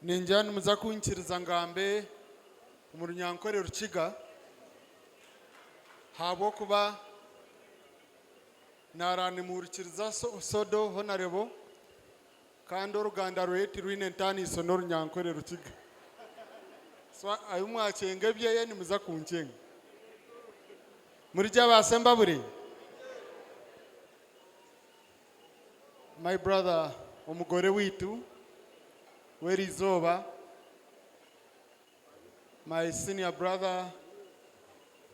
Ningira nimuza kunkiriza ngambe omu runyankore Rukiga ahabw'okuba nara nimuhurikiriza sodo honarebo kandi oruganda rweye tirwine ntaniso n'orunyankore Rukiga. So ahu mwacenga ebyeye nimuza kuncenga. Murigye ba Sembabure? My brother omugore waitu w'erizooba, my senior brother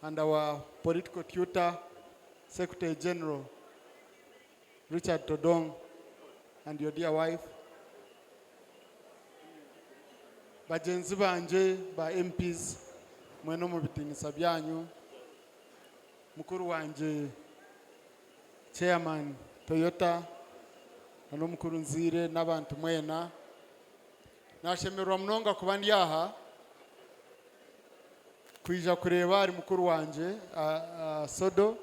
and our political tutor, secretary general Richard Todong and your dear wife, bagyenzi bangye ba MPs mwena omubitiinisa byanyu, mukuru wangye. Chairman Toyota na Omukuru Nziire n'abantu mwena. Nashemererwa munonga kuba ndi aha kwija kureeba ahari mukuru wangye Sodo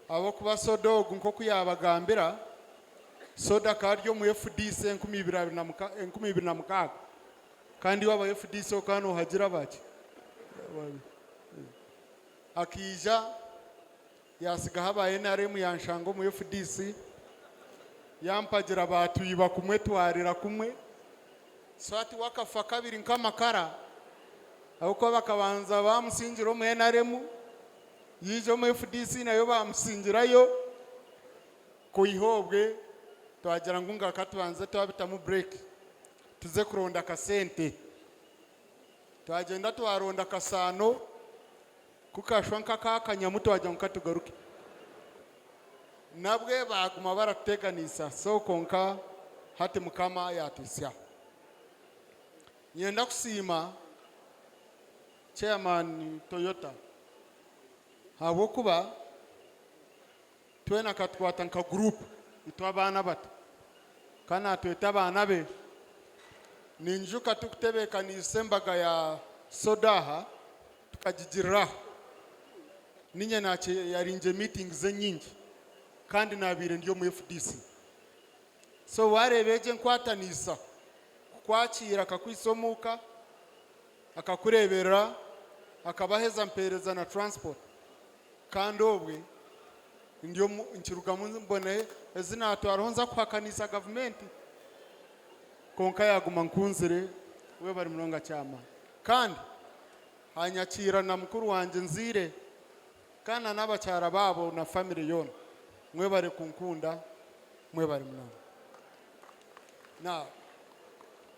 ahabw'okuba Sodo ogu nk'oku yaabagambira, Sodo akaba ari omu FDC enkumi ibiri abiri na mukaaga enkumi ibiri na mukaaga kandi waaba aha FDC okaba noohagira bake akaija Yaatsigaho aba nrm yaanshanga omu fdc, yaampagira baatwiba kumwe twarira kumwe so hati we akafa kabiri nk'amakara ahabw'okuba bakabanza baamusingira omu nrm yaija omu fdc nayo baamusingirayo kwiha obwe twagira ngu nga ka tubanze twabitamu bureeki tuze kuronda akasente. Twagyenda twaronda akasaano. Ku kashwa nk'akakanya mu twagira ngu katugaruke, nabwe baaguma baratuteeganiisa so kwonka hati Mukama yaatwitsya. Niinyenda kusiima Chairman Toyota ahabw'okuba. Twena katukwata nka group itwe abaana abato ka natweta abaana be. Ninyijuka turikutebekaniisa embaga ya soda aha tukagigiriraho. Ninye nakye yari ngye meeting ze nyingi kandi nabaire ndi omu FDC. So wareeba egyo enkwataniisa kukwakiira akakwitsa omuka. Akakureeberera akabaheza mpeereza na transport kandi obwe ndi omu nkirugamu mbone ezi naatwaraho nza kuhakaniisa gavumenti kwonka yaaguma nkunzire webare munonga kyama kandi anyakiira na mukuru wangye nzaire kandi na n'abakyara baabo na famire yoona mwebare kunkunda mwebare munonga.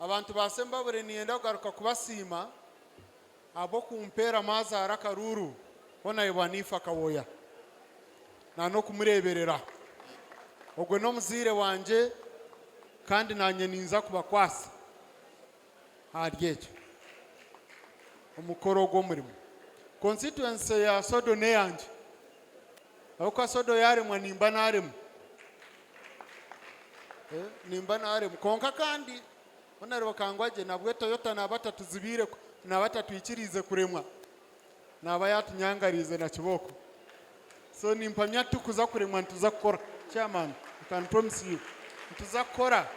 Abantu ba Sembabure niinyenda kugaruka kubasiima ahabw'okumpeeramu azaara akaruuru ku naayebwa niifa Kawoya na n'okumureeberera. Ogwo n'omuzaire wangye kandi naanye niinza kubakwasa ahari egyo omukora ogwo murimo. Konsititwensi ya Sodo n'eyangye ahabw'okuba Sodo yaaremwa nimba naaremwa. Eh, nimba naaremwa kwonka kandi ku nareeba kangwa gye nabwo toyota naaba atatuzibiire ku- naaba atatwikiriize kuremwa naaba yaatunyangariize na kibooko so nimpamya tikuza kuremwa nituza kukora chairman I can promise you nituza kukora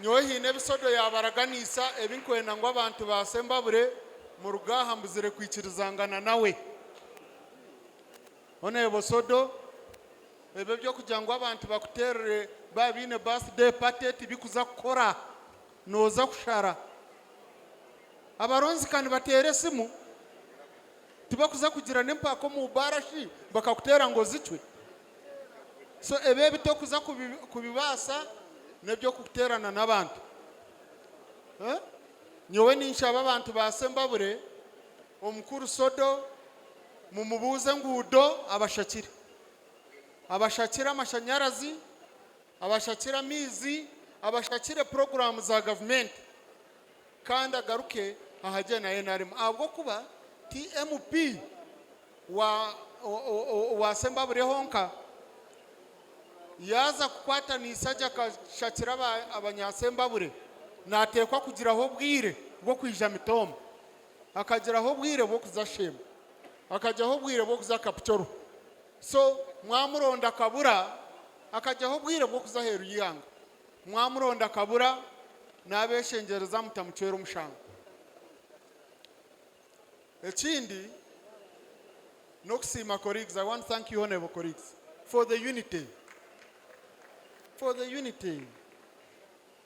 nyowe haine ebisodo yaabaraganiisa ebi nkwenda ngu abantu baase mbabure muruga aha mbuzire kwikirizangana nawe Honourable Sodo, Ebyo eby'okugira ngu abantu bakuteerere baaba baine birthday party tibikuza kukora. Nooza kushara. Abaronzi ka nibateera esimu, tibakuza kugira n'empaka omu baara shi bakakuteera ngu ozicwe? So ebyo ebi torikuza kubibaasa n'eby'okuteerana n'abantu. Nyowe ninshaba abantu ba Sembabure, Omukuru Sodo, Mumubuuze enguudo abashakire. Abashakire amashanyarazi, abashakire amaizi, abashakire puroguraamu za gavumenti kandi agaruke aha gye na nrm ahabw'okuba ti MP wa wa Sembabreho nka. Yaaza kukwataniisa gye akashakira aba abanyasembabure naateekwa kugiraho obwire bw'okwija Mitooma. akagiraho obwire bw'okuza Sheema, akagyaho obwire bw'okuza Kapchorwa. So mwamuronda akabura, akagyaho obwire bw'okuza aheeru y'eihanga. Mwamuronda akabura, naabeeshengyereza mutamucwera omushango. Ekindi n'okusiima colleagues, I want to thank you honourable colleagues for the unity, for the unity.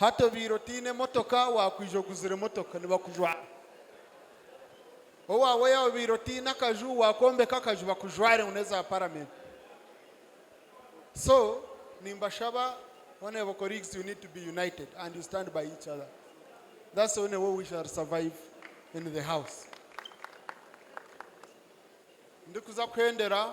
Hati obaire otaine motoka wakwija oguzire motoka nibakujwara. Owaawe yaaba obaire otaine akaju wakombeka akaju bakujware ngu neza paramenti. So nimbashaba honourable colleagues you need to be united and you stand by each other that's the only way we shall survive in the house. Ndikuza kuhendera.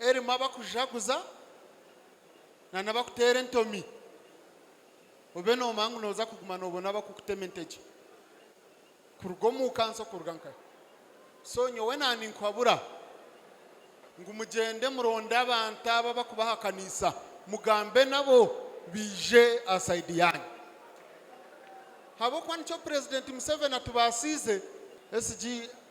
erimu abakujaguza nana abakuteera entomi obe nomanya ngu noza kuguma nobona abakukutema entegye kuruga omukansi okuruga nka so nyowe na ninkuhabura ngu mugyende muronde abantu abo abakubahakaniisa mugambe nabo baije aha side yanyu habwokuba nikyo president Museveni atubasiize SG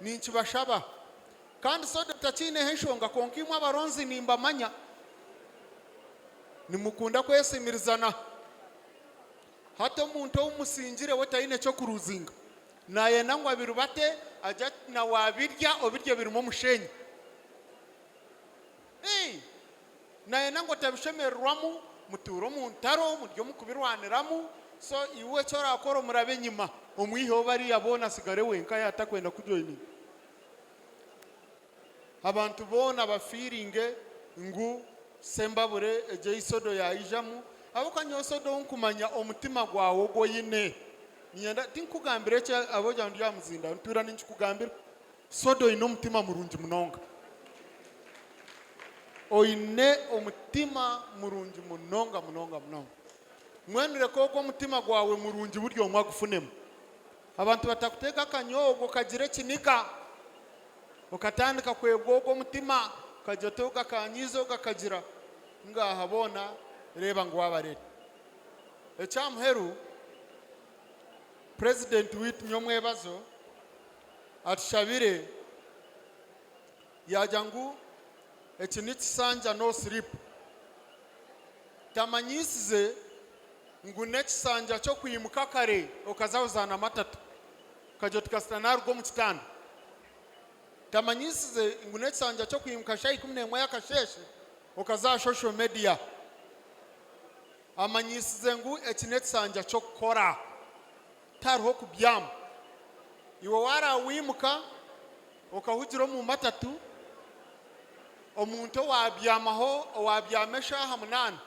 Ninkibashaba. Kandi Soda takyineho enshonga kwonka imwe abaronzi nimbamanya nimukunda kwesimirizana. Hati omuntu ou musingire we taine ky'okuruzinga. Nayenda ngu abiriba ate agye ati nawe abirya obiryo birimu omusheenyi. Ii, Nayenda ngu otabishemererwamu, mutuure omu ntaro, murye omu kubirwaniramu, so iwe eki orakora omurabe enyima, omwiheho bariya boona atsigare wenka yatakwenda kukujoyininga. Abantu boona bafiiringe ngu Sembabure egi eyi soda yayijamu ahabw'okuba nyowe soda ou nkumanya omutima gwawe ogu oyine, niinyenda, tinkukugambira eki ahabw'okugira ngu ndi aha muzindaaro, ntuura ninkikugambira. Soda oine omutima murungi munonga. Oine omutima murungi munonga munonga munonga. Mbwenu reka ogwo omutima gwawe murungi buri omwe agufunemu. Abantu batakuteeka akanya ogwo okagira ekiniga. Okatandika kwegwa ogwo omutima, okagira oti ogakanyiize ogakagira. Ngaaha boona reeba ngu wabarere. Ekyamuheru, Purezidenti waitu nyomwebazo. atushabire yaagira ngu eki n'ekisanja no sleep tamanyisize ngu n'ekisanja ky'okwimuka kare okaza kuzaana amatatu okagira oti kasita naaruga omu kitanda. Tamanyisize ngu n'ekisanja ky'okwimuka shaaha ikumi n'emwe y'akasheeshe okaza aha social media. Amanyisize ngu eki n'ekisanja ky'okukora. tihariho kubyama. Iwe waaraha wimuka okahugira omu matatu, omuntu owaabyamaho owaabyama eshaaha munaana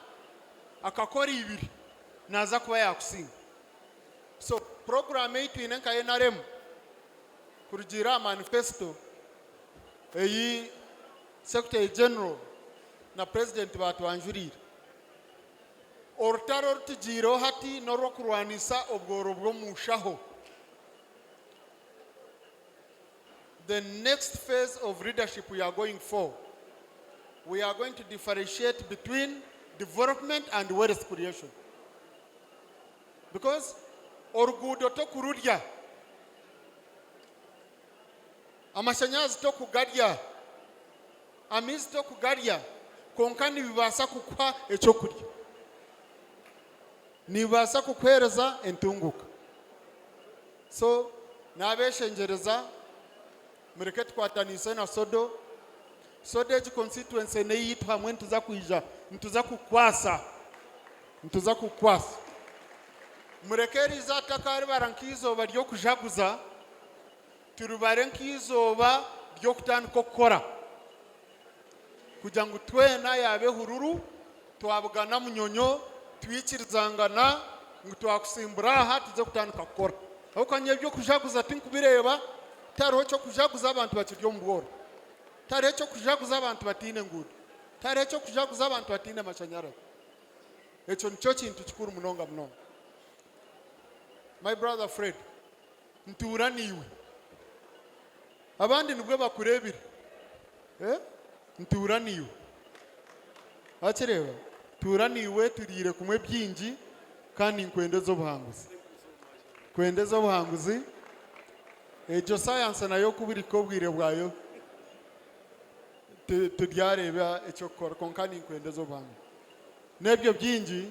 akakora ibiri naaza kuba yaakusinga. So puroguraamu ei twine nka nrm kurugiirira aha manifesto ei Secretary General na Purezidenti baatwanjuriire, Orutaro oru tugyiireho hati n'orw'okurwanisa obworo bw'omu nshaho. The next phase of leadership we are going for, we are going to differentiate between development and wealth creation because oruguudo tokururya. Amashanyarazi tokugarya, amaizi tokugarya kwonka nibibaasa kukuha eky'okurya, nibibaasa kukuheereza entunguuka. So n'abeeshengyereza mureke tukwataniise na Sodo. Sodo egi konsititwensi n'eyaitu hamwe nituza kwija nituza kukukwasa, nituza kukukwasa. Mureke riize aha taka ribara nk'eizooba ry'okujaguza. Turibare nk'eizooba ry'okutandika okukora, kugira ngu twena yaaba ehururu twabugana munyonyo, twikirizangana ngu twakutsimbura aha tugye kutandika kukora. Ahabw'okuba nyowe eby'okujaguza tinkubireeba, tihariho ky'okujaguza abantu bakiri omu bworo, tihariho eky'okujaguza abantu bataine nguuto, tihariho eky'okujaguza abantu bataine mashanyarazi. Ekyo nikyo kintu kikuru munonga munonga. My brother Fred. Ntuura naiwe. Abandi nibwo bakureebire. Ntuura naiwe. Wakireeba? Ntuura naiwe turiire kumwe bingi kandi ninkwenda oze obuhanguzi. Ninkwenda oze obuhanguzi. Egyo sayansi nayo ku buri ka obwire bwayo turyareeba eky'okukora kwonka ninkwenda oze obuhanguzi. N'ebyo bingi